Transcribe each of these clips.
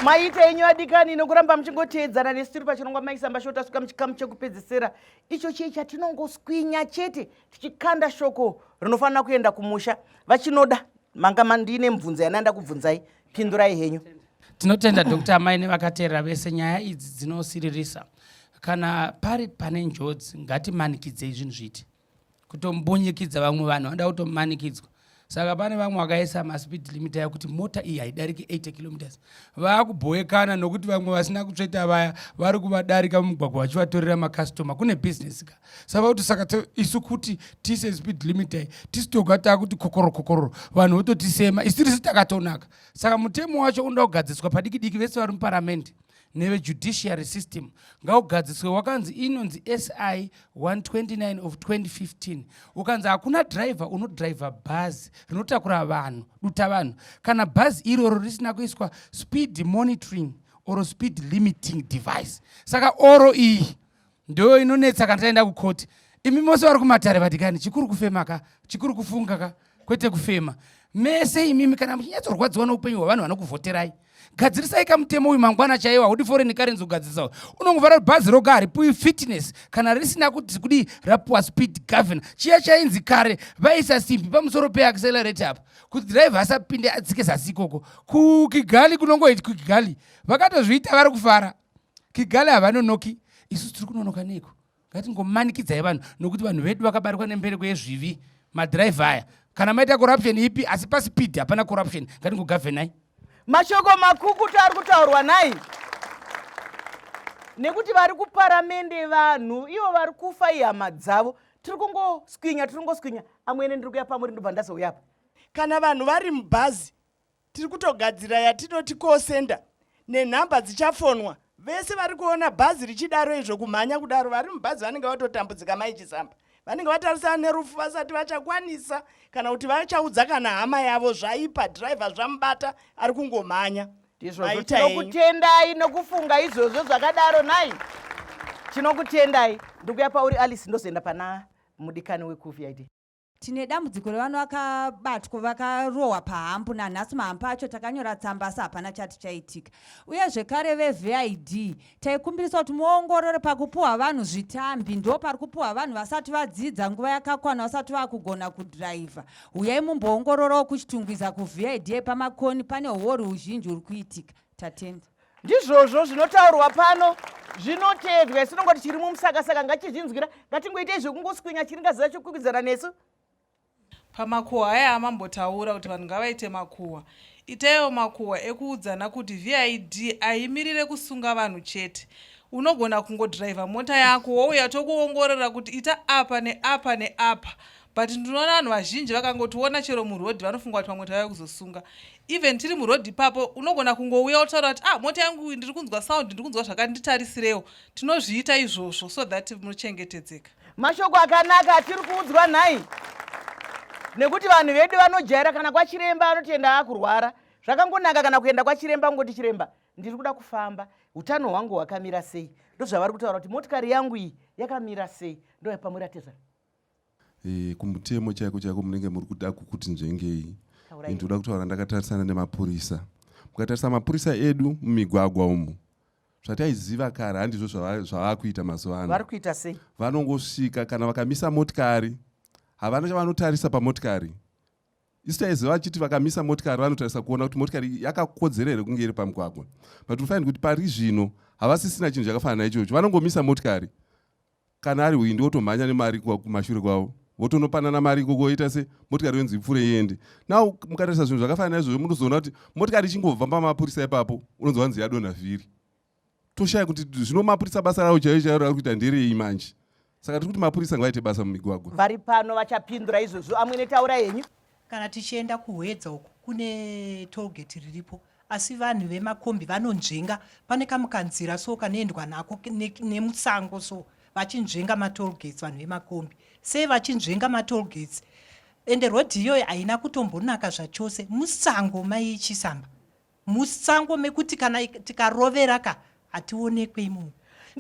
maita enyu adikani nokuramba muchingoteedzana nesu tiri pachirongwa maisamba shoo tasvika muchikamu chekupedzisira icho chiye chatinongoswinya chete tichikanda shoko rinofanira kuenda kumusha vachinoda manga mandiine mubvunzo yananda kubvunzai pindurai henyu tinotenda dr amai nevakateerera vese nyaya idzi dzinosiririsa kana pari pane njodzi ngatimanikidzei zvinhu zviiti kutombunyikidza vamwe vanhu vanoda kutomanikidzwa saka pane vamwe vakaisa maspeed limit ayo kuti mota iyi haidariki 80 kilometers vaakubhowekana nokuti vamwe vasina kutsveta vaya vari kuvadarika mumugwagwa vachivatorera makastoma kune business ka sava kuti saka isu kuti tise speed limit ai tisu toga taakuti kokororo kokororo vanhu vototisema isu tiri sitakatonaka saka mutemo wacho unoda kugadziswa padiki diki vese vari muparamende nevejudiciary system ngaugadziswe wakanzi inonzi si 129 of 2015 ukanzi hakuna driver unodriver bhazi rinotakura vanhu duta vanhu kana bhazi iroro risina kuiswa speed monitoring or speed limiting device saka oro iyi ndoyo inonetsa kana taenda kucourt imi mose vari kumatare vadikani chikuru kufema ka chikuru kufunga ka kwete kufema mese imimi kana muchinyatsorwadziwa noupenyu hwavanhu vanokuvhoterai gadzirisai kamutemo uyu mangwana chaiwo haudi foreign currency kugadzirisawo unongovara kuti bhazi roga haripuwi fitness kana risina kuti kudii rapuwa speed governor chiya chainzi kare vaisa simbi pamusoro peaccelerate apa kuti driver asapinde adzike zasi ikoko kukigali kunongoiti kukigali vakatozviita vari kufara kigali havanonoki isu tiri kunonoka neiko ngatingomanikidzai vanhu nokuti vanhu vedu vakabarikwa nembereko yezvivi madhiraivha aya kana maita corruption ipi asi pasipidi hapana corruption ngatingogavhenai mashoko makukutu ari kutaurwa nai nekuti vari kuparamende vanhu ivo vari kufa ihama dzavo tiri kungoswinya tiri kungoswinya amwene ndiri kuya pamuri ndobva ndazouya apa kana vanhu vari mubhazi tiri kutogadzira yatinoti call center nenhamba dzichafonwa vese vari kuona bhazi richidaro izvo kumhanya kudaro vari mubhazi vanenge vatotambudzika mai chisamba vanenge vatarisana nerufu vasati vachakwanisa kana kuti vachaudza kana hama yavo zvaipa dhiraivha zvamubata ari kungomhanya ndizvozvo tinokutendai nokufunga izvozvo zvakadaro nai tinokutendai ndikuya pauri alice ndozoenda pana mudikani wekuvid tine dambudziko revana vakabatwa vakarohwa pahambu nanhasi mahambu acho takanyora tsamba asi hapana chati chaitika uye zvekare vevid taikumbirisa kuti muongorore pakupuhwa vanhu zvitambi ndo pari kupuhwa vanhu vasati vadzidza nguva yakakwana vasati vakugona kudhiraivha huyai mumboongororawo kuchitungwiza kuvid pamakoni pane huori huzhinji huri kuitika tatenda Ndizvozvo zvinotaurwa pano zvinoteedzwa isu nongoti chiri mumusakasaka ngachizvinzwira ngatingoitei zvekungoswinya chiringaziva chokukwikwidzana nesu pamakuhwa aya amambotaura kuti vanhu ngavaite makuhwa itaiwo makuhwa ekuudzana kuti vid ahimirire kusunga vanhu chete unogona kungodhiraivha mota yako wouya tokuongorora kuti ita apa neapa neapa but ndinoona vanhu vazhinji vakangotiona chero murhodhi vanofunga kuti pamwe tavaya kuzosunga even tiri muroad ipapo unogona kungouya wotaura kuti ah mota yangu ndiri kunzwa sound ndiri kunzwa zvakati nditarisirewo tinozviita izvozvo so that munochengetedzeka mashoko akanaka atiri kuudzwa nhai nekuti vanhu vedu vanojaira kana kwachiremba anotoenda akurwara zvakangonaka kana kuenda kwachiremba kungoti chiremba ndiri kuda kufamba utano hwangu hwakamira sei ndozvavari kutaura kuti motikari yangu iyi yakamira sei ndoyapamwe ratezvana e, kumutemo chaiko chaiko munenge muri kuda kukuti nzvengei ndinoda kutaura ndakatarisana nemapurisa mukatarisa mapurisa edu mumigwagwa umu zvataiziva kare handizvo zvavava kuita mazuva ano vanongosvika kana vakamisa motikari havana chavanotarisa pamotikari isu taiziva vachiti vakamisa motikari vanotarisa kuona kuti motikari yakakodzera here kunge iri pamugwagwa but unofanira kuti pari zvino havasisina chinhu chakafanana ichocho vanongomisa motikari kana ari hwindi wotomhanya nemari kumashure kwavo votonopanana mari ikoko oita se motikari yonzi ipfure iende now mukatarisa zvinhu zvakafanana naizvozvo munozoona kuti motikari ichingobva pamapurisa ipapo unonzi wanzi yadonha vhiri toshaya kuti zvino mapurisa basa ravo chaiyo chaiyo raari kuita nderei manje saka tiri kuti mapurisa ngavaite basa mumigwagwa vari pano vachapindura izvozvo amwene taura henyu Kana tichienda kuHwedza uku kune tollgate riripo asi vanhu vemakombi vanonzvenga pane kamukanzira so kanoendwa nako nemusango ne so vachinzvenga matollgates vanhu vemakombi sei vachinzvenga matollgates ende rodhi iyoyo haina kutombonaka zvachose musango maichisamba Musango mekuti kana tikarovera ka hationekwe imomo.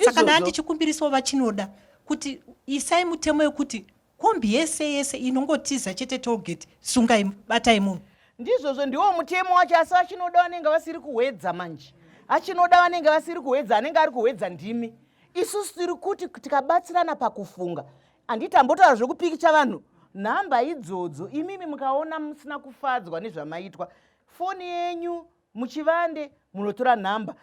Saka ndani ndichikumbirisawo vachinoda kuti isai mutemo yekuti kombi yese yese inongotiza chete tolgate sungai batai munhu ndizvozvo ndiwo mutemo wacho asi vachinoda vanenge vasiri kuhwedza manje achinoda vanenge vasiri kuhwedza anenge ari kuhwedza ndimi isusu tiri kuti tikabatsirana pakufunga handiti ambotaura zvekupikicha vanhu nhamba idzodzo imimi mukaona musina kufadzwa nezvamaitwa foni yenyu muchivande munotora nhamba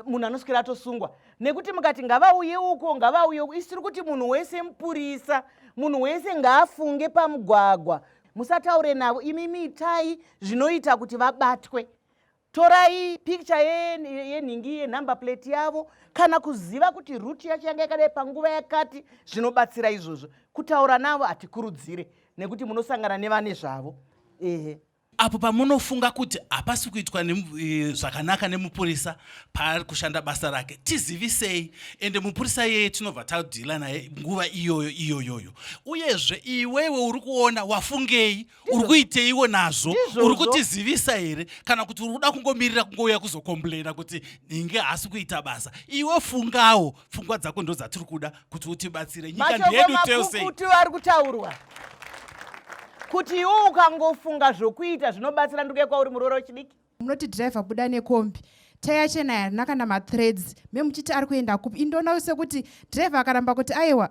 munhu anoswera atosungwa nekuti mukati ngavauye uko ngavauye uko isi tiri kuti munhu wese mupurisa munhu wese ngaafunge pamugwagwa musataure navo imi miitai zvinoita kuti vabatwe torai picture yenhingi ye, yenumber plate yavo kana kuziva kuti ruti yacho yanga yakadai panguva yakati zvinobatsira izvozvo kutaura navo hatikurudzire nekuti munosangana nevane zvavo ehe Apo pamunofunga kuti hapasi kuitwa e, zvakanaka nemupurisa paari kushanda basa rake, tizivisei. Ende mupurisa iyeye tinobva tadhila naye nguva iyoyo iyoyoyo. Uyezve iwewe uri kuona wafungei, uri kuiteiwo nazvo, uri kutizivisa here kana kuti uri kuda kungomirira kungouya kuzokomplaina kuti inge haasi kuita basa? Iwe fungawo pfungwa dzako ndo dzatiri kuda kuti utibatsire nyika ndeyedu teuseikuti ari kutaurwa kuti iwo ukangofunga zvokuita zvinobatsira nduke kwauri muroora wechidiki munoti driver buda nekombi taya chena yarina kana mathreads memuchiti ari kuenda kupi indoona sekuti driver akaramba kuti aiwa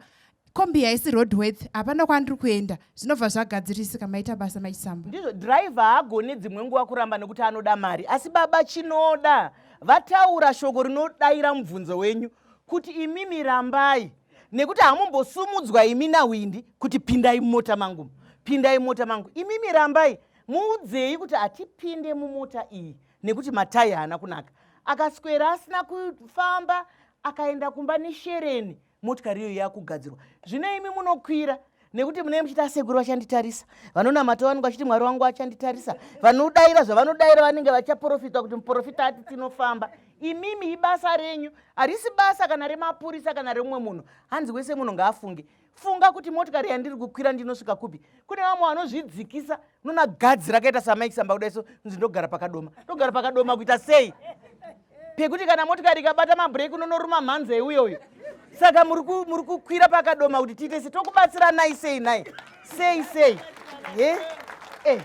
kombi haisi roadworth hapana kwandiri kuenda zvinobva zvagadzirisika maita basa maisamba ndizvo driver haagone dzimwe nguva kuramba nekuti anoda mari asi baba chinoda vataura shoko rinodaira mubvunzo wenyu kuti imimi rambai nekuti hamumbosumudzwa imi nawindi kuti pindai mumota mangu pindai mumota mangu imimi rambai muudzei kuti hatipinde mumota iyi nekuti matai haana kunaka akaswera asina kufamba akaenda kumba neshereni motikari iyo yakugadzirwa zvino imi munokwira nekuti munee muchiti asekuru vachanditarisa vanonamata vanenge vachiti mwari wangu achanditarisa vanodaira zvavanodaira vanenge vachaprofitwa kuti muprofita ati tinofamba imimi ibasa renyu harisi basa kana remapurisa kana remumwe munhu hanzi wese munhu ngaafunge funga kuti motikari yandiri kukwira ndinosvika kupi kune vamwe vanozvidzikisa unoona gadzi rakaita samaikisamba kudaiso nzi ndogara pakadoma ndogara pakadoma kuita sei pekuti kana motikari ikabata mabreak unonoruma mhanza iuyo uyo saka muri kukwira pakadoma kuti tiite sei tokubatsiranai sei nai sei sei ye e eh.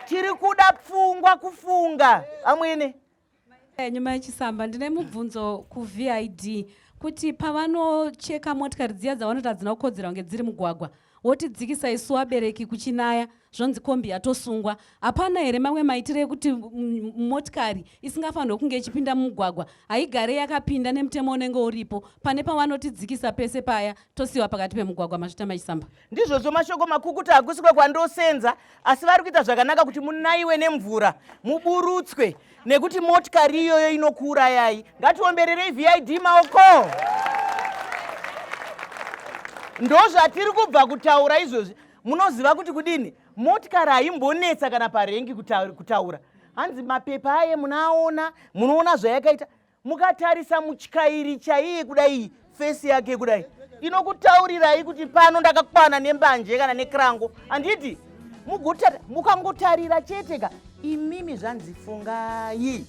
tiri kuda pfungwa kufunga amwene eh, nyuma yechisamba ndine mubvunzo kuvid kuti pavanocheka motikari dziya dzavanoti hadzina kukodzera kunge dziri mugwagwa Wotidzikisa isu wabereki kuchinaya zvonzi kombi yatosungwa. Hapana here mamwe maitire ekuti motikari isingafanirwe kunge ichipinda mumugwagwa haigare yakapinda nemutemo unenge uripo pane pawanotidzikisa pese paya tosiwa pakati pemugwagwa mazvita machisamba. Ndizvozvo mashoko makukuta hakusikwe kwandosenza asi vari kuita zvakanaka kuti munaiwe nemvura muburutswe nekuti motikari iyoyo inokuurayai ngatiombererei vid maoko ndozvatiri kubva kutaura izvozvi munoziva kuti kudini motikari haimbonetsa kana parengi kutaura hanzi mapepa aye munaaona munoona zvayakaita mukatarisa mutyairi chaiye kudai fesi yake kudai inokutaurirai kuti pano ndakakwana nembanje kana nekrango handiti mukangotarira chete ka imimi zvanzi fungai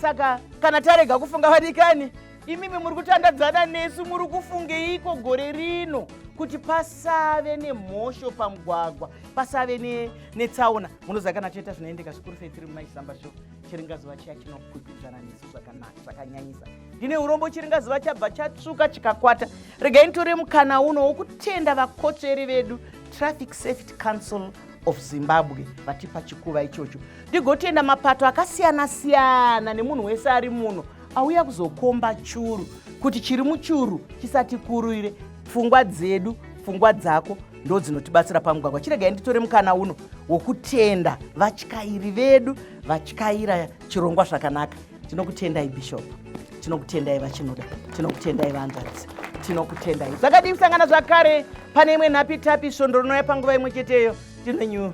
saka kana tarega kufunga vadikani imimi muri kutandadzana nesu muri kufungeiko gore rino kuti pasave nemhosho pamugwagwa pasave netsaona munoziva kana toita zvinoendeka zvikuru sei tiri mumaisamba sho chiringazuva chiya chinokwikwidzana nesu zvakanaka zvakanyanyisa ndine urombo chiringazuva chabva chatsvuka chikakwata regai nitore mukana uno wokutenda vakotsveri vedu traffic safety council of zimbabwe vatipa chikuva ichocho ndigotenda mapato akasiyana siyana nemunhu wese ari muno auya kuzokomba churu kuti chiri muchuru chisatikurire pfungwa dzedu pfungwa dzako ndo dzinotibatsira pamugwagwa chiregai nditore mukana uno wokutenda vatyairi vedu vatyaira chirongwa zvakanaka tinokutendai bishop tinokutendai vachinoda tinokutendai vanzvadzi tinokutendai zvakadii kusangana zvakare pane imwe nhapitapi svondo rinouya panguva imwe cheteyo tinenyu